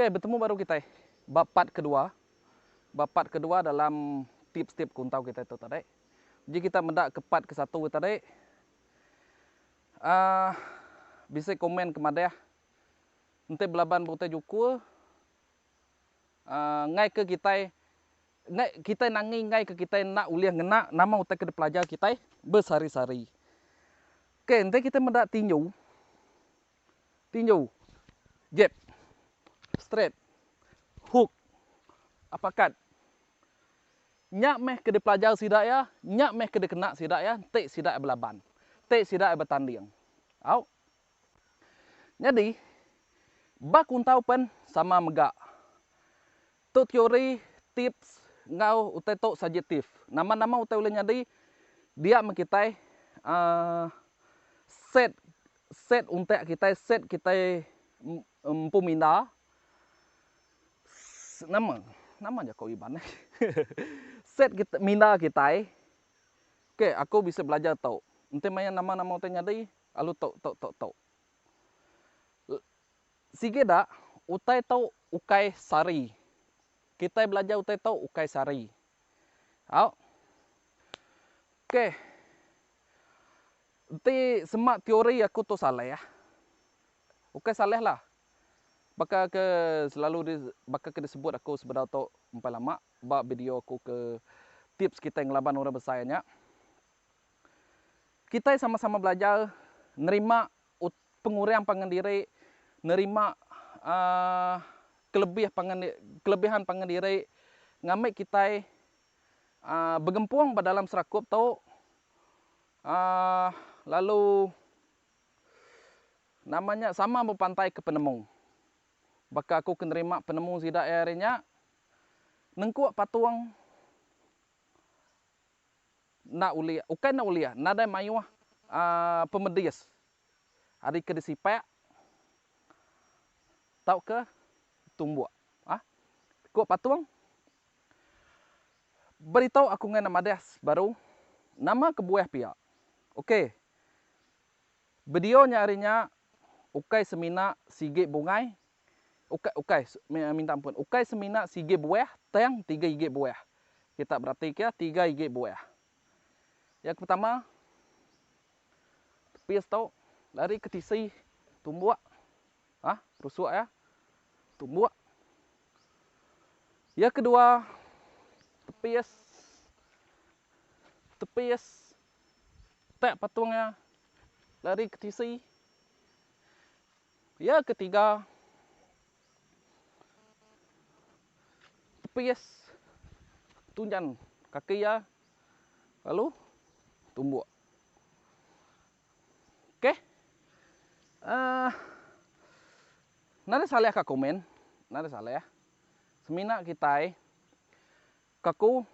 Okay, betemu baru kitai ba part kedua. Ba part kedua dalam tips-tips kuntau kitai tu tadi. Uji kita meda ke part ke satu tadi. Ah, bisi komen ke madah enti belaban berutai juku ah, ngai ke kitai ngai kitai nangi ngai ke kitai enda ulih ngena nama utai ke dipelajar kitai besehari-sehari. Okay, enti kitai meda tinju. tinju, jab, straight, hook, uppercut. Nya meh ke dipelajar sida iya, nya meh ke dikena sida iya enti sida iya belaban, enti sida iya betanding. Au. Nyadi ba kuntau pen sama mega Tu teori, tips, enggau utai tu subjektif. Nama-nama utai ulih nyadi dia meh kitai aaa set set untak kitai, set kitai empu minda. Ss nama nama jako iban ai set kit minda kitai ke aku bisi belajar tu. Enti maya nama-nama utai nyadi lalu tu tu tu tu. Sigi dak utai tu ukai sari. Kitai belajar utai tu ukai sari. Au. Ok. Enti semak teori aku tu salah. Ukai salah lah. Baka ke selalu di baka ke disebut aku sebedau tu empai lama ba video aku ke tips kitai ngelaban orang besai nya. Kitai sama-sama belajar nerima Pengurang pangan diri nerima kelebih pangan kelebihan pangan diri ngambi kitai begempung ba dalam serakup tu lalu nama nya sama bepantaika penemu. Baka aku ke nerima penemu sida iya hari nya nengkuk patung. enda ulih ukai enda ulih nadai mayuh pemedis ari ke disipak tauka tumbuk. Ku patung, Beritau aku ngagai ne madah baru nama kebuah pia. Okey, bedio nya ari nya ukai semina sigi bungai Ukai ukai minta ampun. Ukai semina sigi buah tang tiga igi buah. Kita berati ke tiga igi buah. Yang ke pertama tepis tu dari ke tisi tumbuk ah rusuk ya tumbuk. Yang ke dua tepis tepis tak patung ya dari ke tisi Ya ketiga tepis tunjan kaki iya lalu tumbuk. Okey. Uh, nada salih ka komen, nada salih. Semina kitai kaku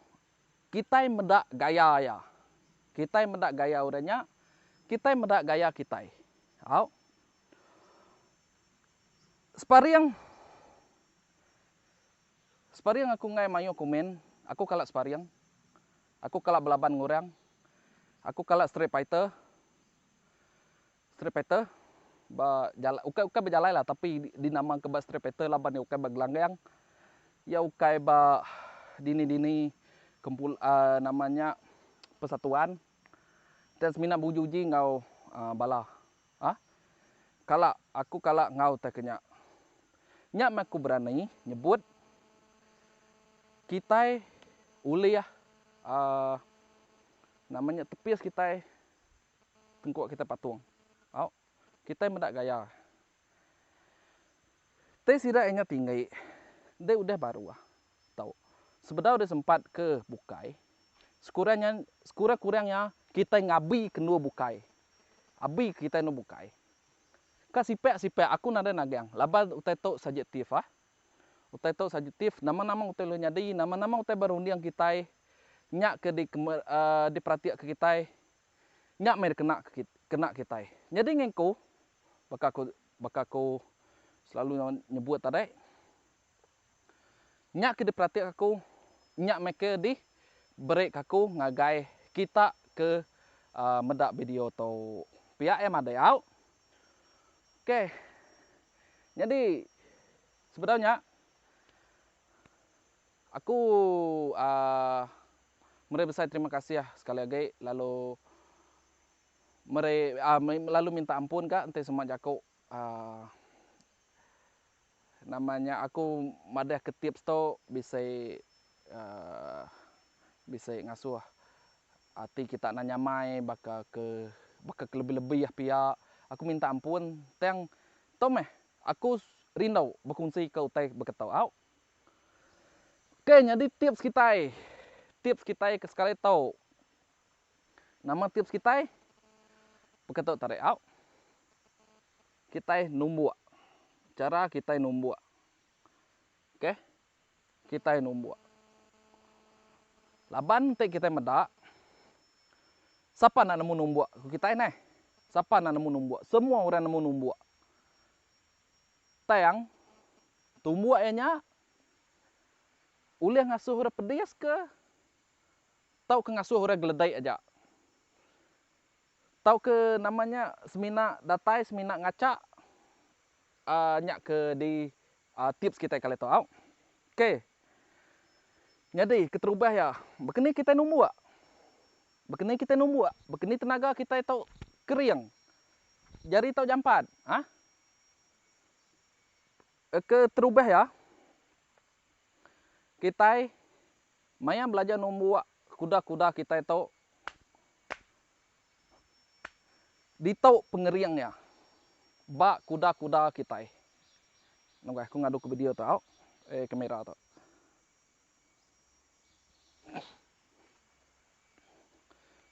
Kitai meda gaya iya. Kitai meda gaya orang nya. Kitai meda gaya kitai. Au. Sparing. Sparing aku enggai mayuh komen. Aku kala sparing. Aku kala belaban enggau orang. Aku kala street fighter. Street Fighter ba jalai ukai ukai ba jalai lah tapi dinama ke ba Street Fighter laban iya ukai ba gelanggang iya ukai ba dini dini kempul aa nama nya persatuan dan semina ba uji uji enggau aa bala aa kala aku kala enggau tai ke nya nya meh aku berani nyebut kitai ulih aa nama nya tepis kitai Tengkuk kitai patung. Au. Kitai meda gaya. Te sida inya tinggi. Deh udah baru ah. Tau. Sebedau deh sempat ke bukai. Sekurang nya, sekurang-kurang nya kitai ngabi ke endur bukai. Abi ke kitai endur bukai. Ka sipak-sipak aku nadai nagang laban utai tu sajetif ah. Utai tu sajetif nama-nama utai ulih nyadi, nama-nama utai berunding kitai nya ke dikema, aaa, diperatika kitai Nya meh dikena ke kena kitai. Nyadi ngengku baka ku baka aku selalu nyebut tadi nya ke diperatika aku nya meh ke di berika aku ngagai kita ke aaa meda video tu. Pia eh madai au. Ok. Nyadi sebedau nya. Aku aaa meri besai terima kasih sekali agi lalu meri aaa lalu minta ampun ka enti sema jaku aaa nama nya aku madah ke tips tu bisi aaa bisi ngasuh ati kita nang nyamai baka ke baka ke lebih-lebih pia. Aku minta ampun tang tu meh aku rindu bekunsi ka utai baka tu au. Ok nyadi tips kitai, tips kitai ke sekali tu. Nama tips kitai? Baka tu tadi au. Kitai numbuk. Chara kitai numbuk. Ok. Kitai numbuk. Laban ti kitai meda, sapa enda nemu numbuk ku kitai neh. Sapa enda nemu numbuk. Semua orang nemu numbuk. Tang tumbuk iya nya ulih ngasuh orang pedis ke tauka ngasuh orang geledek aja. Tauka nama nya semina datai semina ngaca aaa nya ke di tips kitai kali tu au. Ok nyadi keterubah iya bekeni kitai numbuk, bekeni kitai numbuk, bekeni tenaga kitai tu kering jari tu jampat ah. Keterubah iya, kitai maya belajar numbuk kuda-kuda kitai tu ditu pengering iya ba kuda-kuda kitai. Nengah aku ngaduka video tu au, eh kamera tu.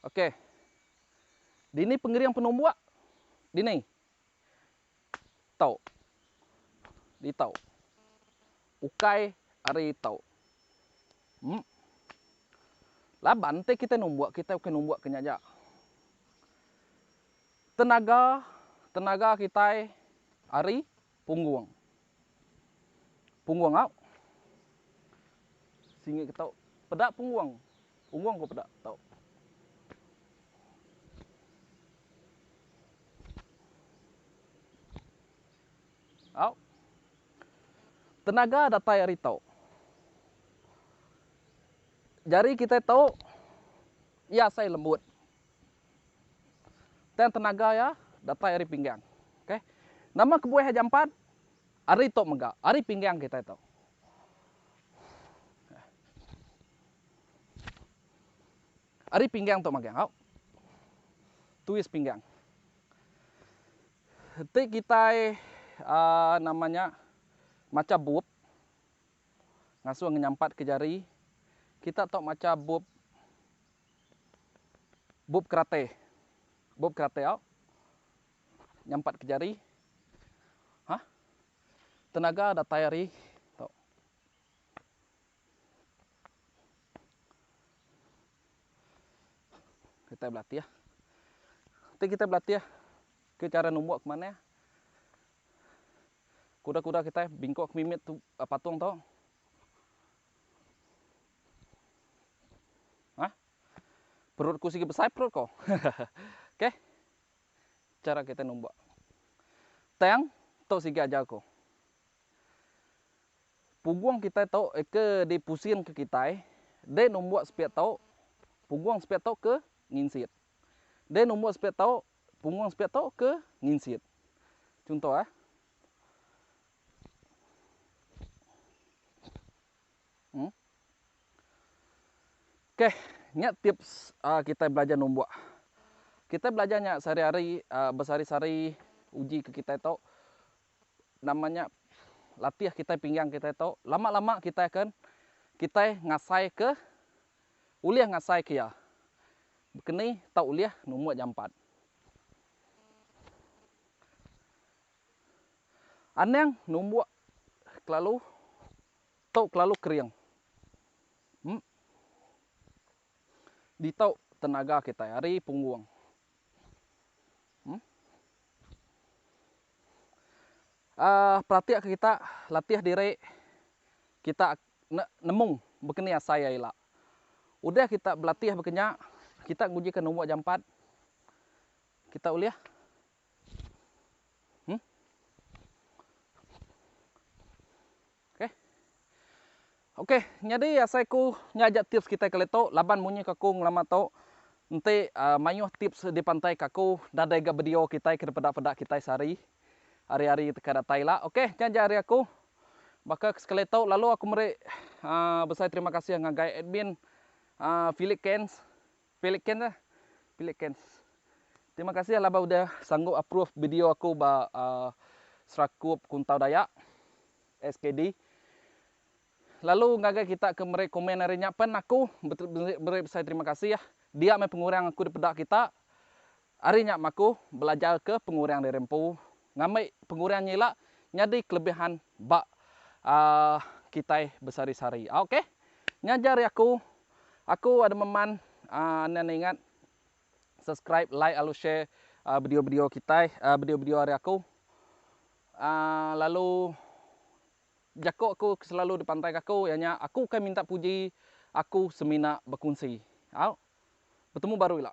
Okey. Dini pengering penumbuk? Dini. tau ditau ukai ari tau em laban te kite numbuk kite ukai numbuk ke nya aja tenaga tenaga kitai ari punggung. Punggung au Singi ke tau Peda punggung Punggung ko peda tau Au Tenaga datai ari tau Jari kitai tau Iya asai lembut Tang tenaga iya datai ari pinggang. Ok. Nama kebuah iya jampat? Ari tu mega, ari pinggang kitai tu. Ari pinggang tu magang. Au. Twist pinggang. Ti kitai uh, nama nya macha bup ngasuh ngenyampatka jari. Kita tu macha bup Bup keratai. Bup keratai au nyampat ke jari. Hah. Tenaga datai ari tu. Kita belatih. Ti kita belatih ke cara numbuk ke manah. Kuda-kuda kita bingkuk ke mimit tu patung tu. Ha? Perut ku sigi besai perut ko. Okey. Cara kita numbak. Tang tu sigi ajar ko. Pugung kita tu ke di pusing ke kitai, deh numbak sepiak tu, pugung sepiak tu ke nginsit. Deh numbak sepiak tu, pugung sepiak tu ke nginsit. Contoh eh. Huh. Okey, nya tips uh, kita belajar numbuk. Kita belajar nya sehari-hari uh, besari-sari uji ke kita tu namanya latih kita pinggang kita tu lama-lama kita akan kita ngasai ke ulih ngasai ke ya. Kini tak ulih numbuk jampat. Anang numbuk kelalu Tau kelalu kering. Emp. Ditau tenaga kitai ari punggung. Emp. Aah peratika kita latih diri kita ne nemu bekeni asai iya ila. Udah kita belatih baka nya kita ngujika numba jampat kita ulih Okey nyadi asai aku nya aja tips kitai kali tu laban munyi ka aku ngelama tu enti mayuh tips dipantai ka aku nadai ga video kitai ke dipeda peda kitai sehari hari hari ka datai ila okey nya ja ari aku baka ke sekali tu lalu aku meri aaa besai terima kasih ngagai admin aaa phillip cairns. Pelicans ah pelicans. Terima kasih laban udah sanggup approve video aku ba Serakup Kuntau Dayak, SKD. Lalu ngagai kita ke meri komen ari nya pen aku meri besai terima kasih. Dia meh pengurang aku dipeda kita. Ari nya makuh belajarka pengurang diri empu ngambi pengurang nya ila nyadi kelebihan ba kitai besari-sari. Ok nya ja ari aku. Aku ada meman enda ne ingat subscribe like lalu share video-video kitai video-video ari aku lalu jako aku selalu dipantaika aku iya nya aku ukai minta puji aku semina bekunsi. Au. Betemu baru ila.